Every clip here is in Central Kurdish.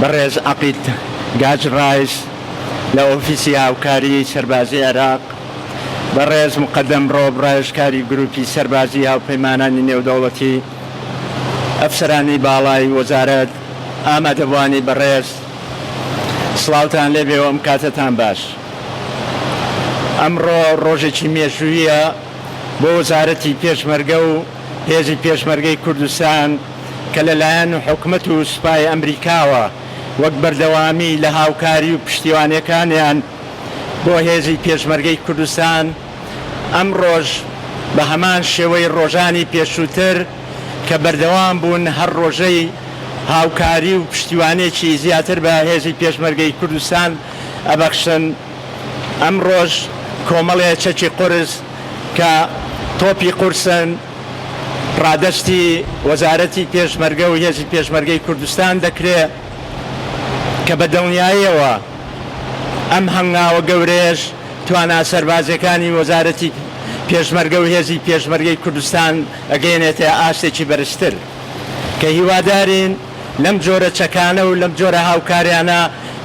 بەڕێز عەقید گاج ڕایس لە ئۆفیسی هاوکاریی سەربازیی عێراق، بەڕێز موقەدەم ڕۆب ڕاوێژکاری گرووپی سەربازیی هاوپەیمانانی نێودەوڵەتی، ئەفسەرانی باڵای وەزارەت، ئامادەبووانی بەڕێز سڵاوتان لێ بێ و ئەم کاتەتان باش. ئەمڕۆ ڕۆژێکی مێژووییە بۆ وەزارەتی پێشمەرگە و، هێزی پێشمەرگەی کوردستان کە لەلایەن حکومەت و سوپای ئەمریکاوە وەک بەردەوامی لە هاوکاری و پشتیوانیەکانیان بۆ هێزی پێشمەرگەی کوردستان ئەمڕۆش بە هەمان شێوەی ڕۆژانی پێشووتر کە بەردەوام بوون هەر ڕۆژەی هاوکاری و پشتیوانێکی زیاتر بە هێزی پێشمەرگەی کوردستان ئەبەخشن. ئەمڕۆش کۆمەڵێ چەکی قورس کە تۆپی قورسن ڕادەستی وەزارەتی پێشمەرگە و هێزی پێشمەرگەی کوردستان دەکرێ کە بە دڵنیایەوە ئەم هەنگاوە گەورەیەش توانا سەربازیەکانی وەزارەتی پێشمەرگە و هێزی پێشمەرگەی کوردستان ئەگەیەنێتە ئاستێکی بەرزتر کە هیوادارین لەم جۆرە چەکانە و لەم جۆرە هاوکاریانە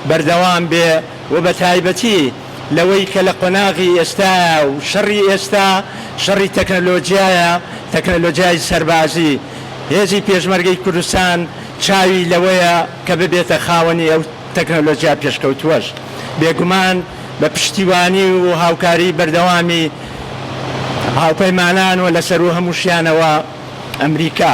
بەردەوام بێ. و بە تایبەتی لەوەی کە لە قۆناغی ئێستایە و شەڕی ئێستا شەڕی تەکنەلۆجیایە، تەکنەلۆجیای سەربازی، هێزی پێشمەرگەی کوردستان چاوی لەوەیە کە ببێتە خاوەنی ئەو تەکنەلۆجیا پێشکەوتووەش بێگومان بە پشتیوانی و هاوکاری بەردەوامی هاوپەیمانان و لە سەروو هەمووشیانەوە ئەمریکا.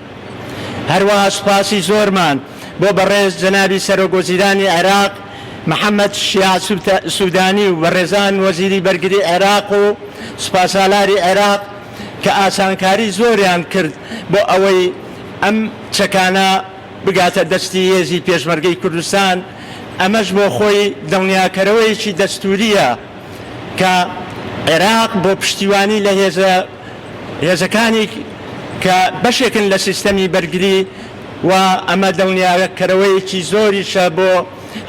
هەروەها سوپاسی زۆرمان بۆ بەڕێز جەنابی سەرۆک وەزیرانی عێراق محەمەد شیاع سودانی و بەڕێزان وەزیری بەرگری عێراق و سوپاسالاری عێراق کە ئاسانکاری زۆریان کرد بۆ ئەوەی ئەم چەکانە بگاتە دەستی هێزی پێشمەرگەی کوردستان ئەمەش بۆ خۆی دڵنیاکەرەوەیەکی دەستوورییە کە عێراق بۆ پشتیوانی لە هێزە هێزەکانی کە بەشێکن لە سیستەمی بەرگری و ئەمە دڵنیاکەرەوەیەکی زۆریشە بۆ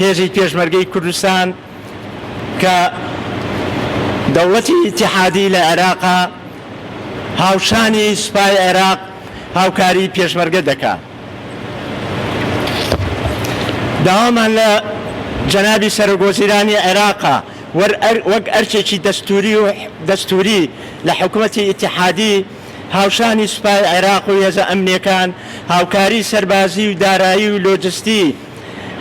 هێزی پێشمەرگەی کوردستان کە دەوڵەتی ئیتیحادی لە عێراقا هاوشانی سوپای عێراق هاوکاری پێشمەرگە دەکا داوامان لە جەنابی سەرۆک وەزیرانی عێراقا وەک ئەرکێکی دەستووری لە حکومەتی ئیتیحادی هاوشانی سوپای عێراق و هێزە ئەمنییەکان هاوکاری سەربازی و دارایی و لۆجستی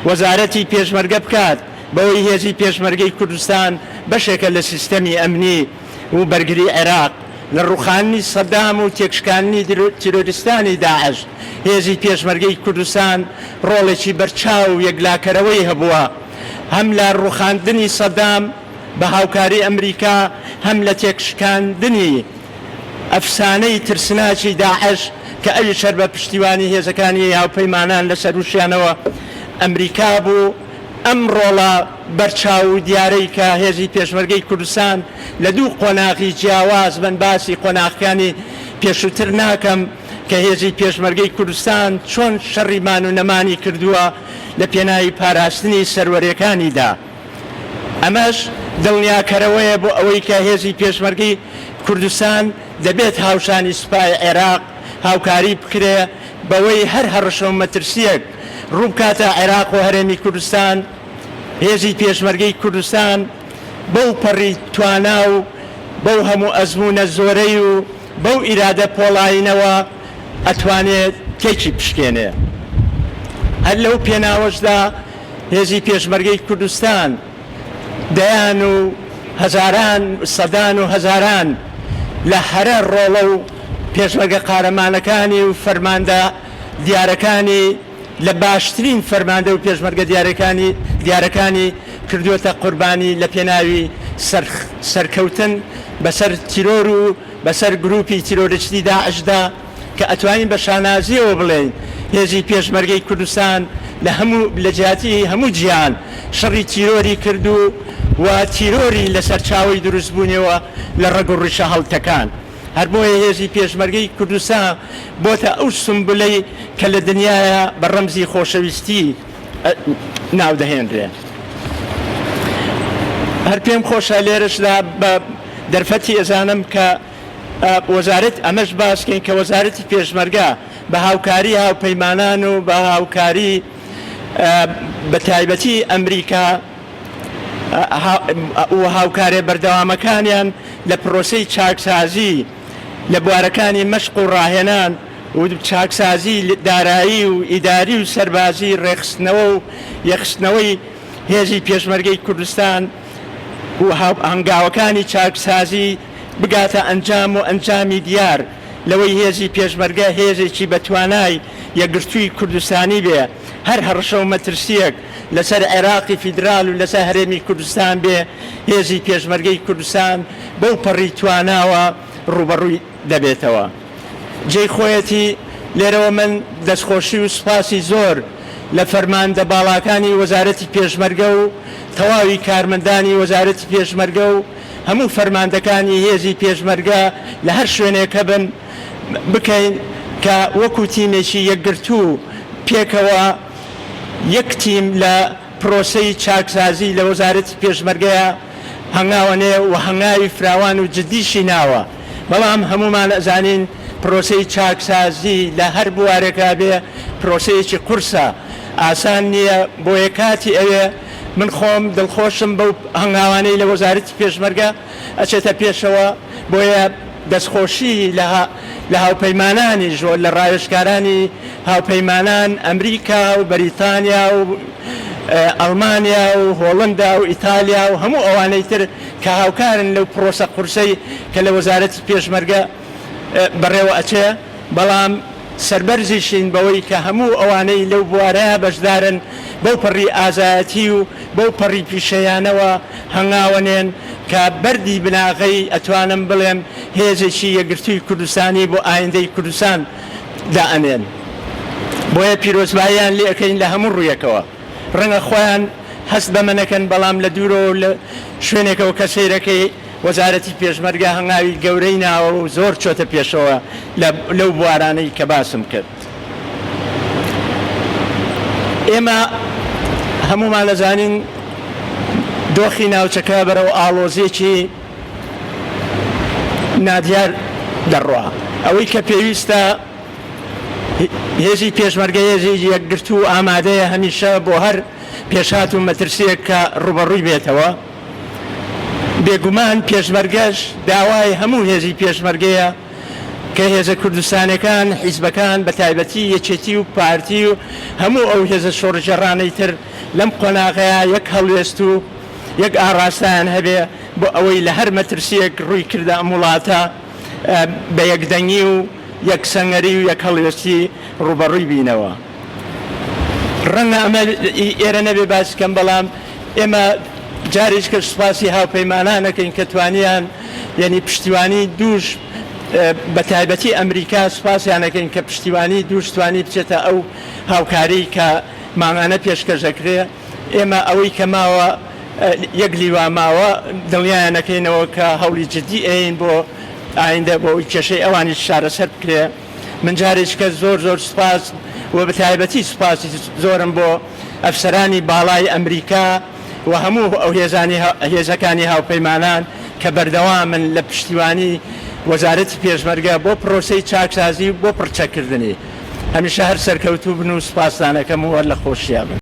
وەزارەتی پێشمەرگە بکات، بەوەی هێزی پێشمەرگەی کوردستان بەشێکە لە سیستەمی ئەمنی و بەرگری عێراق لە ڕووخاندنی سەدام و تێکشکاندنی تیرۆریستانی داعش، هێزی پێشمەرگەی کوردستان ڕۆڵێکی بەرچاو و یەکلاکەرەوەی هەبووە. هەم لە ڕوخاندنی سەدام بە هاوکاری ئەمریکا، هەم لە تێکشکاندنی ئەفسانەی ترسناکی داعش کە ئەویش هەر بە پشتیوانی هێزەکانی هاوپەیمانان لە سەرووشیانەوە ئەمریکا بوو، ئەم ڕۆڵە بەرچاو و دیارەی کە هێزی پێشمەرگەی کوردستان لە دوو قۆناغی جیاواز بن باسی قۆناغەکانی پێشووتر ناکەم، کە هێزی پێشمەرگەی کوردستان چۆن شەڕی مان و نەمانی کردووە لە پێناوی پاراستنی سەروەریەکانیدا. ئەمەش دڵنیاکەرەوەیە بۆ ئەوەی کە هێزی پێشمەرگەی کوردستان دەبێت هاوشانی سوپای عێراق هاوکاری بکرێ بەوەی هەر هەڕەشە و مەترسیەک ڕووبکاتە عێراق و هەرێمی کوردستان هێزی پێشمەرگەی کوردستان بەو پەڕی توانا و بەو هەموو ئەزموونە زۆرەی و بەو ئیرادە پۆڵایینەوە ئەتوانێ تێکی بشکێنێ. هەر لەو پێناوەشدا هێزی پێشمەرگەی کوردستان دەیان و هەزاران، سەدان و هەزاران لە هەرە ڕۆڵە و پێشمەرگە قارەمانەکانی و فەرماندە دیارەکانی، لە باشترین فەرماندە و پێشمەرگە دیارەکانی دیارەکانی کردووەتە قوربانی لە پێناوی سەر سەرکەوتن بەسەر تیرۆر و بەسەر گرووپی تیرۆریستی داعشدا کە ئەتوانین بە شانازییەوە بڵێین هێزی پێشمەرگەی کوردستان لە هەموو لە جیاتی هەموو جیهان شەڕی تیرۆری کرد و و تیرۆری لە سەرچاوەی دروستبوونیەوە لە ڕەگ و ڕیشە هەڵتەکاند. هەر بۆیە هێزی پێشمەرگەی کوردستان بۆتە ئەو سومبولەی کە لە دنیایا بە ڕەمزی خۆشەویستی ناو دەهێنرێ. هەر پێم خۆشە لێرەشدا بە دەرفەتی ئێزانم کە وەزارەت ئەمەش باسکەین کە وەزارەتی پێشمەرگە بە هاوکاری هاوپەیمانان و بە هاوکاری بە تایبەتی ئەمریکا و هاوکارە بەردەوامەکانیان لە پرۆسەی چاکسازی لە بوارەکانی مەشق و ڕاهێنان و چاکسازی دارایی و ئیداری و سەربازی ڕێکخستنەوە و یەکخستنەوەی هێزی پێشمەرگەی کوردستان و هەنگاوەکانی چاکسازی بگاتە ئەنجام و ئەنجامی دیار لەوەی هێزی پێشمەرگە هێزێکی بەتوانای یەکگرتووی کوردستانی بێ. هەر هەڕەشە و مەترسییەک لەسەر عێراقی فیدرال و لەسەر هەرێمی کوردستان بێ، هێزی پێشمەرگەی کوردستان بەو پەڕی تواناوە ڕووبەڕووی دەبێتەوە. جێی خۆیەتی لێرەوە من دەستخۆشی و سوپاسی زۆر لە فەرماندە باڵاکانی وەزارەتی پێشمەرگە و تەواوی کارمەندانی وەزارەتی پێشمەرگە و هەموو فەرماندەکانی هێزی پێشمەرگە لە هەر شوێنێک هەبن، بکەین کە وەکو تیمێکی یەکگرتوو پێکەوە یەک تیم لە پرۆسەی چاکسازی لە وەزارەتی پێشمەرگەیا هەنگاوەنێ و هەنگاوی فراوان و جدیشی ناوە بەڵام هەموومان ئەزانین پرۆسەی چاکسازی لە هەر بوارێکا بێ پرۆسەیەکی قورسە ئاسان نییە بۆیە کاتی ئەوێ من خۆم دڵخۆشم بەو هەنگاوانەی لە وەزارەتی پێشمەرگە ئەچێتە پێشەوە، بۆیە دەستخۆشی لە هاوپەیمانانیش و لە ڕاوێژکارانی هاوپەیمانان، ئەمریکا و بەریتانیا و ئەڵمانیا و هۆڵندا و ئیتالیا و هەموو ئەوانەی تر کە هاوکارن لەو پڕۆسە قورسەی کە لە وەزارەتی پێشمەرگە بەڕێوە ئەچێ، بەڵام سەربەرزیشین بەوەی کە هەموو ئەوانەی لەو بوارەیە بەشدارن بەو پەڕی ئازایەتی و بەو پەڕی پیشەیانەوە هەنگاوەنێن کە بەردی بناغەی ئەتوانم بڵێم هێزێکی یەکگرتووی کوردستانی بۆ ئایندەی کوردستان دائەنێن بۆیە پیرۆزباییان لێ ئەکەین لە هەموو ڕوویەکەوە ڕەنگە خۆیان هەست بەمە نەکەن بەڵام لە دوورەوەو لە شوێنێکەوە کە سەیرەکەی وەزارەتی پێشمەرگە هەنگاوی گەورەی ناوە و زۆر چۆتە پێشەوە لەو بوارانەی کە باسم کرد. ئێمە هەموومان دەزانین دۆخی ناوچەکە بەرەو ئاڵۆزیەکی نادیار دەڕوا. ئەوەی کە پێویستە هێزی پێشمەرگە هێزی یەکگرتوو ئامادەیە هەمیشە بۆ هەر پێشهات و مەترسیەک کە ڕوبەڕووی بێتەوە. بێگومان پێشمەرگەش داوای هەموو هێزی پێشمەرگەیە کە هێزە کوردستانەکان، حیزبەکان بە تایبەتی یەکێتی و پارتی و هەموو ئەو هێزە شۆڕشگێڕانەی تر لەم قۆناغەیا یەک هەڵوێست و یەک ئاڕاستەیان هەبێ بۆ ئەوەی لە هەر مەترسییەک ڕووی کردە ئەم وڵاتە بە یەکدەنگی و یەک سەنگەری و یەک هەڵوێستی ڕووبەڕووی بینەوە. ڕەنگە ئەمە ئێرە نەبێ باس بکەم، بەڵام ئێمە جارێکیکە سوپاسی هاوپەیمانان دەکەین کە توانیان یەنی پشتیوانی دووش بە تایبەتی ئەمریکا سوپاسیان دەکەین کە پشتیوانی دووش توانی بچێتە ئەو هاوکاریی کە مانگانە پێشکەش دەکرێ. ئێمە ئەوەی کە ماوە یەک لیوا ماوە، دڵنیایان دەکەینەوە کە هەوڵی جددی ئەیەین بۆ ئایندە بۆ ئەوەی کێشەی ئەوانیش چارەسەر بکرێ. من جاریچکە زۆر زۆر سوپاس و بەتایبەتی سوپاسی زۆرم بۆ ئەفسەرانی باڵای ئەمریکا و هەموو ئەو هێزانی هێزەکانی هاوپەیمانان کە بەردەوامن لە پشتیوانی وەزارەتی پێشمەرگە بۆ پرۆسەی چاکسازی و بۆ پڕچەککردنی هەمیشە هەر سەرکەوتوو بن و سوپاستانەکەم و هەر لە خۆشییا بن.